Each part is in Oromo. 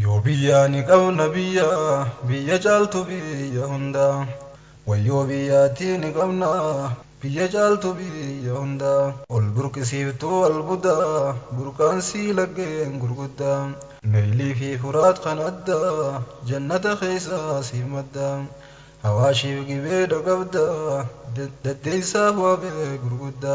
Yoo biyyaa ni qabna biyya biyya caaltu biyya hunda Wayyoo biyyaatii ni qabna biyya caaltu biyya hunda Ol burqisiiftuu albuda burqaan sii laggeen gurgudda Naylii fi furaat kan adda jannata keessaa siif madda Hawaashiif gibee dhaqabda daddeessaaf waabee gurgudda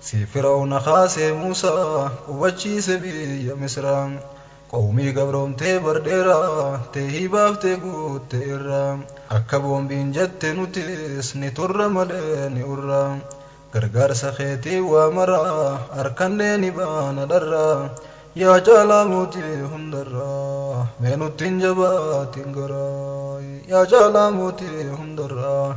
Si Fir'awna kaasee Muusaa, qubachiise biyya Misraa. Qawmii gabroomtee bar dheeraa, teehii baaftee guutte irraa. Akka boombiin jette nutis, ni turra malee ni urra. Gargaarsa keetiin waa maraa, arkannee ni baana dharraa. Yaa caalaa mootii hundarraa, mee nutti hin jabaatin garaa. Yaa caalaa mootii hundarraa.